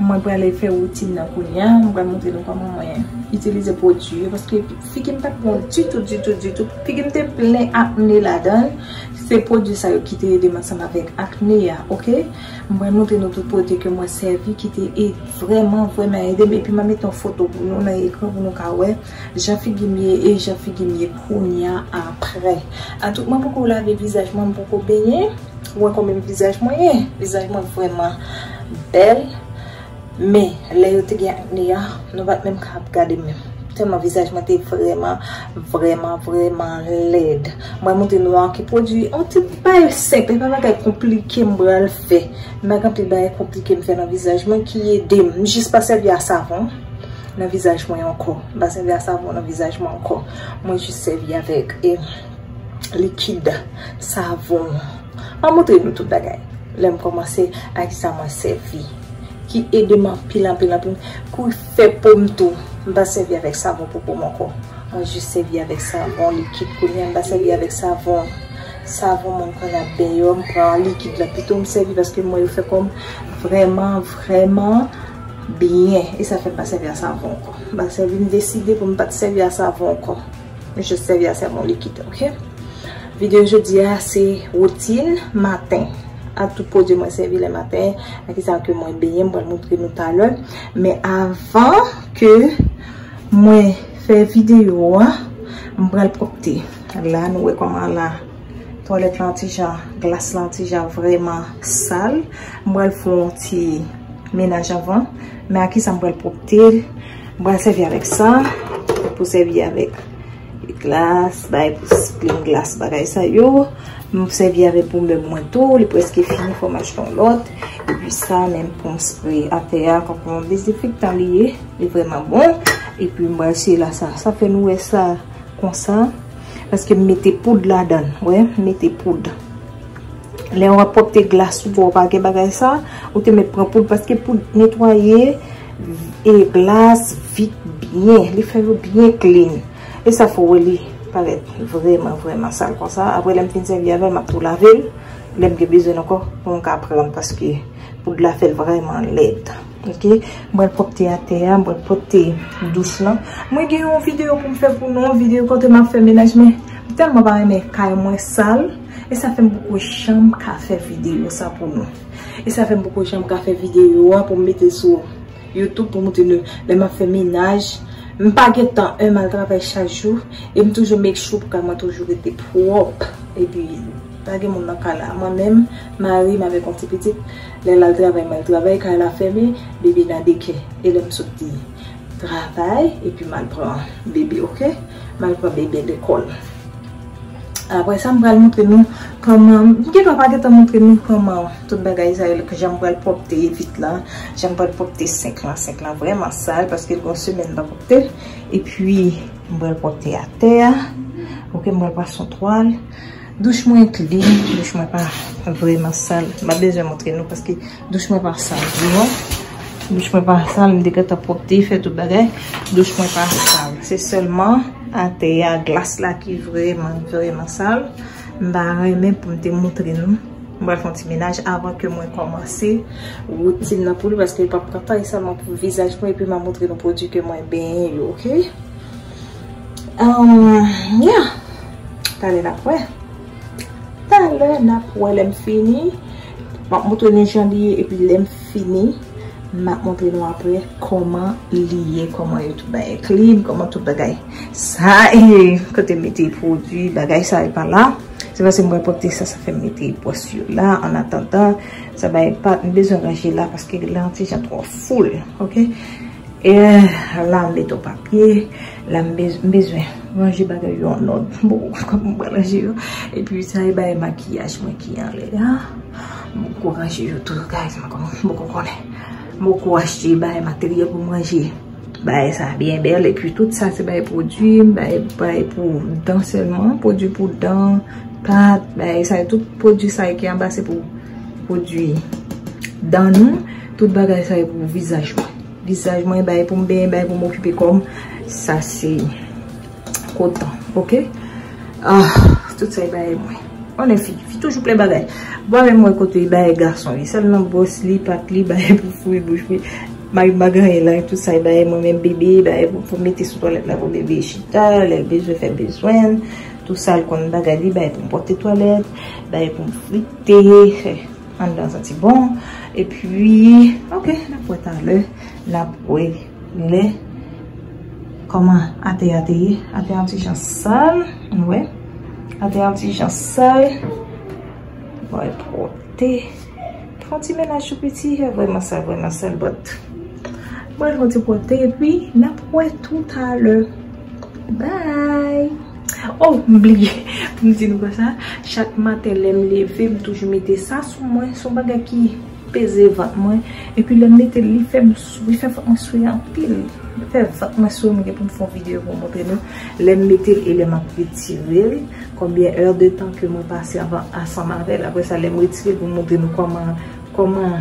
Mwen prale fè woutin nan kounya, mwen pral montre nou kòman mwen itilize pwodui yo paske figi m pat bon ditou ditou ditou, figi m te plen akne ladanl, se pwodui sa yo ki te ede m ansanm avèk akne a ok, m pral montre nou tout pwodui ke mwen sèvi ki te vrèman vrèman ede m epi m ap met yon foto pou nou nan ekran pou nou ka wè. Jan figi m ye e jan figi m ye kounya aprè Atout mwen poko lave vizaj mwen, m poko benyen Ou wè kòmèm vizaj mwen ye? Vizaj mwen vrèman bèl Men lè yo te gen akne a Nou pat menm ka ap gade m menm Tèlman vizaj mwen te vrèman Vrèman vrèman lèd Mwen montre nou a ki pwodui On ti bagay senp, e pa bagay konplike m pral fè M pa gen anpil bagay konplike m fè nan vizaj mwen ki ede m M jis pa sèvi a savon nan vizaj mwen ankò, m pa sèvi a savon nan vizaj mwen ankò, mwen jis sèvi avèk e likid savon map montre nou tout bagay lè m kòmanse ak kisa mwen sèvi ki ede m anpil anpil anpil pou fè po m tou m pa sèvi avèk savon pou po m ankò mwen jis sèvi avèk savon likid kounye a m pa sèvi avèk savon savon moun konn ap deyò m pran likid la pito m sèvi paske mwen yo fè kò m vrèman vrèman Byen, e sa fè m pa sèvi a savon ankò. M pa sèvi, m deside pou m pa t sèvi a savon ankò. M jis sèvi a savon likid, ok? Videyo jodi a se woutin maten. A tout pwodui mwen sèvi le maten, a ki sa ke mwen benyen, m pral montre nou talè. Men avan ke mwen fè videyo a, m pral pwòpte. La nou wè kòman la. Twalèt lan ti jan, glas lan ti jan vrèman sal. M pral fè yon ti menaj anvan. Men a kisa m pral pwopte l? M pral sèvi avèk sa. Pou sèvi avèk glas, bay pou plim glas bagay sa yo. M pou sèvi avèk pou mèb mwen tou. Li preske fini fò m achte yon lòt. E pi sa menm pou m spre atè a. Kòm pou yon dezenfektan li ye. Li vrèman bon. E pi m pral siye la sa. Sa fè nou wè sa konsa. Paske m mete poud ladan. Wè, m mete poud. Lè w ap pwopte glas ou, ou pa gen bagay sa, ou te met pran poud. Paske poud netwaye e glas vit byen. Li fè yo byen klin. E sa fè wè li parèt vreman, vreman sal kon sa. Apre lè m fin sèvi avè l, m ap tou lave l. Lè m gen bezwen l ankò, pou m ka pran l. Paske poud la fè l vreman lèd. Ok m pral pwòpte atè a m pral pwòpte douch lan mwen gen yon videyo pou m fè pou nou yon videyo kote m ap fè menaj men m tèlman pa renmen kay mwen sal e sa fè m poko janm ka fè videyo sa pou nou e sa fè m poko janm ka fè videyo a pou m mete sou youtube pou m moutre nou lè m ap fè menaj m pa gen tan m al travay chak jou e m toujou make sure pou kay mwen toujou rete pwòp epi pa gen moun nan kay la mwen menm mari m avèk yon ti pitit. Lè lal travay mal travay kay la fèmen bébé nan dekè elèm sot di travay epi mal pran bébé ok mal pran bébé lekòl aprè sa m pral montre nou kòman m gentan pa gentan montre nou kòman tout bagay sa yo jan m pral pwòpte vit la jan m pral pwòpte senk lan senk lan vrèman sal paske l gon semèn m pa pwòpte l epi m pral pwòpte atè a ok m pral pran son twal. Douch mwen klin, douch mwen pa vreman sal. M pa bezwen montre nou paske douch mwen pa sal vreman. Douch mwen pa sal, m te gentan pwopte, fè tout bagay. Douch mwen pa sal. Se sèlman atè a, glas la ki vreman, vreman sal. M ta renmen pou m te montre nou. M pral fè yon ti menaj avan ke mwen kòmanse woutin nan pou nou paske l pa pran tan. E sèlman pou vizaj mwen epi m a montre nou pwodui ke mwen benyen yo, ok? Umm ya Talè nap wè Talè nap wè lèm fini Map moutre nou jan li ye epi lèm fini Map moutre nou aprè Koman li ye Koman yo tout bagay clean Koman tout bagay Sa ye Kote mete pwodwi bagay sa yo pa la Se paske mwen pote sa sa fèm mete pwòs yo la an atandan Sa bay pat m bezwen ranje la paske lan ti jan twò foul Ok Eehh la m met on papye, la m bezwen ranje bagay yo an òd. M poko konn kòman m pral ranje yo. Epi sa e bagay makiyaj mwen ki anlè a. M poko ranje yo tou guys, m poko konnen. M poko achte bagay materyèl pou m ranje bagay sa byen bèl. Epi tout sa se bagay pwodwi, bagay pou dan sèlman. Pwodwi pou dan, pat, bagay sa yo tout. Pwodwi sa yo ki anba se pou pwodwi dan nou. Tout bagay sa e pou vizaj mwen. Vizaj mwen bay pou m benyen, bay pou m okipe kò m. Sa se koton. Ok? Ah! Tout sa e bay mwen. On e fi. Fi toujou plen bagay. Bwa men mwen kote e bay gason li. Sèl nan bwos li, pat li, bay pou fwi bouch li. May bagan e la. Tout sa e bay mwen men bebe. Bay pou pou mete sou toalet la pou bebe. Chita, lèl bezwen fè bezwen. Tout sa l kon bagay li. Bay pou m pote toalet. Bay pou m fwi te. Anndan an santi bon. E pwi, ok, n ap wè talè. N ap wè lè. Kòman atè a te ye. Atè yon ti jan sal. Ann wè. Atè yon ti jan sal. Bon, e pwòpte. Fon ti menaj tou piti. E vwèman sal, vwèman sal, bòt. Mwen fon ti pwòpte. E pwi, n ap wè tou talè. Bye Oh m bliye pou m di nou konsa chak maten lè m leve m toujou mete sa sou mwen son bagay ki peze vant mwen epi lè m mete l li fè m sou li fè vant mwen sou anpil li fè vant mwen sou m gen pou m fè yon videyo pou m montre nou lè m mete l e lè m ap retire l konbyen è de tan ke mwen pase avan ansanm avè l aprè sa lè m retire l pou m montre nou kòman kòman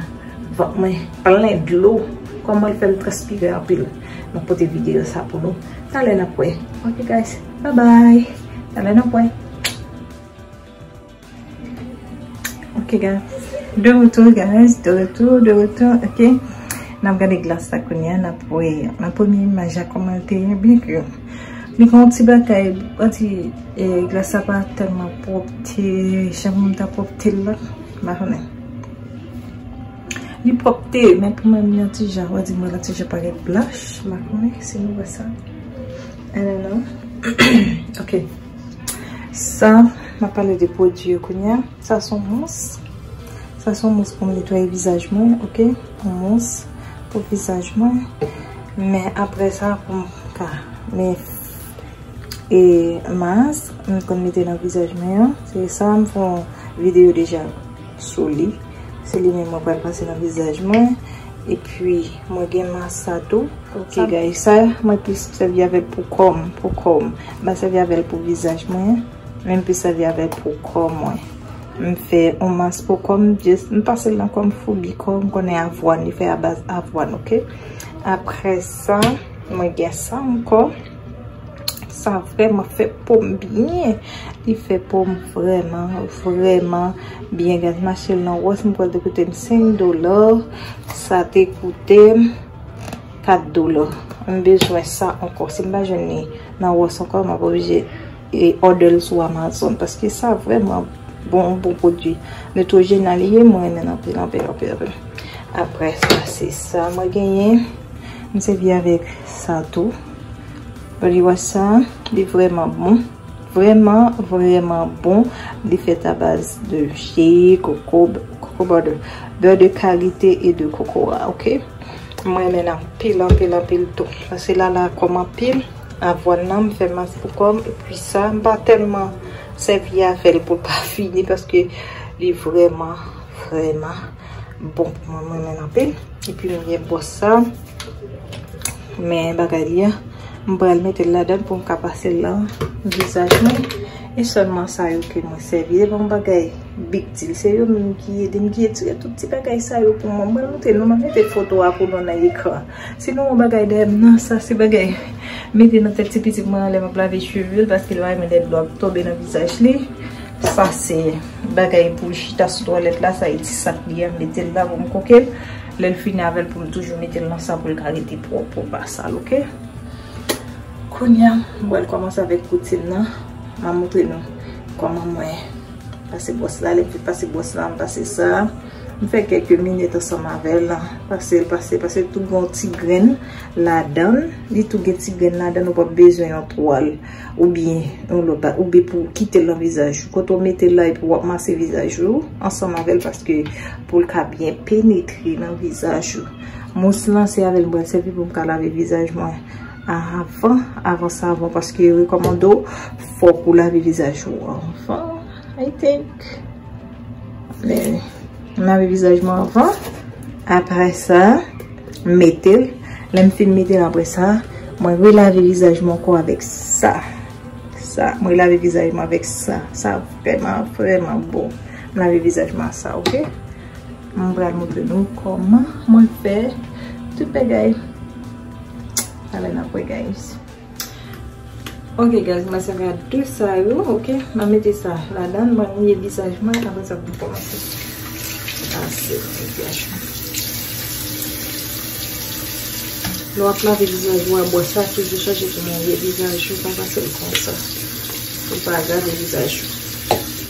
vant mwen plen dlo kòman l fè m transpire anpil. Map pote video sa pou nou Talè nap wè Ok guys bye bye Talè nap wè Ok guys De retour guys De retour de retour Ok Nap gade glas la kounya Nap wè Nan premye imaj la kòman l te ye Byen ke Li gen yon ti bagay Yon ti Glas la pa tèlman pwòp Ti Jan moun ta pwòp tel la Mpa konnen. Li pwòpte, men pou mwen li an ti jan. Wè di mwen an ti jan parèt blanch. M pa konnen si nou wè sa. I don't know. Ok. Sa, m ap pale de pwodui yo kounye a. Sa son mous. Sa son mous pou m netwaye vizaj mwen. Ok. Yon mous pou vizaj mwen. Men apre sa pou m ka men e mas. M konn mete nan vizaj mwen an. Se sa m fon videyo deja. sou li se li menm mwen pral pase nan vizaj mwen epi mwen gen mas sa tou ok guys sa mwen plis sèvi avèl pou kòm pou kòm mwen sèvi avèl pou vizaj mwen mwen plis sèvi avèl pou kò mwen mwen fè yon mas pou kòm mwen pasel nan kòm foubi kòm mwen konnen avwàn li fè a baz avwàn ok aprè sa mwen gen sa ankò Sa vreman fe pom byen. Li fe pom vreman vreman byen guys. Mache nan wos mwen kwel te koute m 5 dola. Sa te koute m 4 dola. M bezwen sa anko. Si m pa jwenn li nan wos anko m ap oblije. E order l sou Amazon paske sa vreman bon yon bon pwodwi Neutrogena li ye mwen renmen l anpil anpil anpil anpil aprè sa se sa mwen genyen m sèvi avèk sa tou body wash sa li vreman bon vreman vreman bon li fèt a baz de je koko koko bòdè bè de kalite e de koko a ok mwen renmen l anpil anpil anpil tou paske l ala kòm anpil. Avwàn nan m fè mas pou kòm epi sa m pa tèlman sèvi avèl pou l pa fini paske li vrèman vrèman bon pou mwen m renmen l anpil epi m gen bwòs sa men bagay li an m pral mete l ladan pou m ka pase l lan vizaj mwen e sèlman sa yo ke mwen sèvi se pa yon bagay big deal se yo menm ki ede m ki etire tout ti bagay sa yo pou mwen m pral mete nou m ap mete foto a pou nou nan ekran. Si nou wè yon bagay dèyè m nan, sa se bagay m mete nan tèt ti pitit mwen an lè m ap lave cheve l paske l pa renmen lè dlo ap tonbe nan vizaj li. Sa se bagay pou l chita sou twalèt la, sa e ti sak li an m mete l la pou m koke l. Lè l fini avè l pou l toujou mete l nan sa pou l ka rete pwòp pou l pa sal ok. Kounye a, m pral kòmanse avèk kouti m nan. M ap montre nou kòman mwen pase bwòs la. Lè m fin pase bwòs la, m pase sa. M fè kèk minit ansanm avè l. Pase l, pase l, pase l. Tou gen yon ti grenn ladan l. Li tou gen ti grenn ladan l. Ou pap bezwen yon twal oubyen yon lòt bagay. Oubyen pou w kite l nan vizaj ou. Kote w mete l la epi w ap mase vizaj ou ansanm avè l paske pou l ka byen penetre nan vizaj ou. Mous lan se avè l m pral sèvi pou m ka lave vizaj mwen avan, avan savon paske yo rekòmande w fòk ou lave vizaj ou avan, I think. Men, m lave vizaj mwen anvan. Apre sa, m mete l. Lè m fin mete l apre sa, mwen relave vizaj mwen ankò avèk sa. Sa, mwen relave vizaj mwen avèk sa. Sa vreman, vreman bon. M lave vizaj mwen ak sa, ok? M pral montre nou kòman mwen fè tout bagay. Talè n ap wè, guys. Ok guys mwen se va de sa yo ok ma mete sa la dan mwen mouye visaj mwen apre sa pou kòman se ase mwen fè chou Lè w ap lave vizaj ou a bwè sa toujou chache pou netwaye vizaj ou pa pase l konsa pou l pa agrave vizaj ou.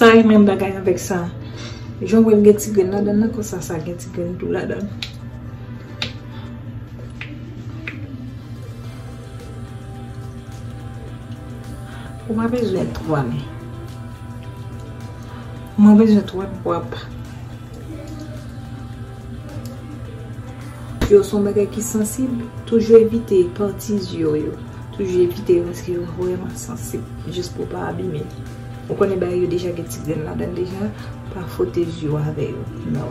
Sa e menm bagay avèk sa. Jan w wè l gen ti grenn ladan l lan konsa sa gen ti grenn tou ladan l. Ou pa bezwen 3 men. Mwen bezwen 3 pwa pa. Dlo son bagay ki sansib, toujou evite pati zye w yo, toujou evite yo paske yo vrèman sansib, jis pou w pa abime l. Ou konnen bagay yo deja gen ti grenn ladan l deja, pa fwote zye w avè yo, no.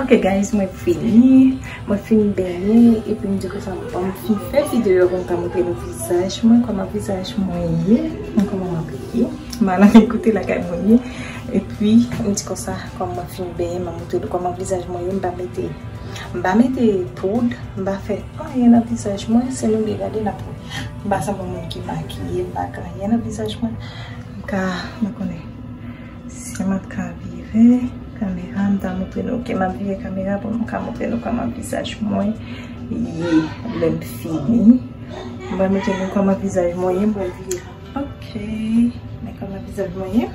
Ok guys mwen fini Mwen fin benyen epi m di ke sa bon m fin fè video pou m ta montre nou vizaj mwen kòman vizaj mwen ye m kòman m abiye m al ann kote lakay mwen ye epi m di konsa kòm mwen fin benyen m ap montre nou kòman vizaj mwen ye m pa mete m pa mete poud m pa fè anyen nan vizaj mwen se nou ki gade n ap wè m pa sanble yon moun ki makiye m pa gen anyen nan vizaj mwen m ka m pa konnen. Sim ap ka vire kamera m ta moutre nou ok map vire kamera pou m ka moutre nou koman vizaj mwen ye lem fini m pral moutre nou koman vizaj mwen ye m pral vire ok men koman vizaj mwen ye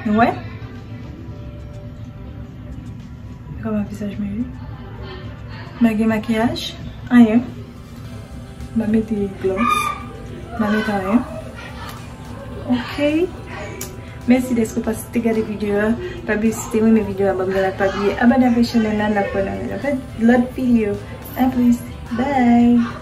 nou wè koman vizaj mwen ye mwen gen makiyaj anyen Mwen mete glans. Mwen mete anyen. Ok. Mèsi deske ou pase te gade videyo a. Pa bliye si te renmen videyo a banm yon like. Pa bliye abone avèk chanèl la. Nap wè nan yon lòt lòt videyo. A plis. Bye.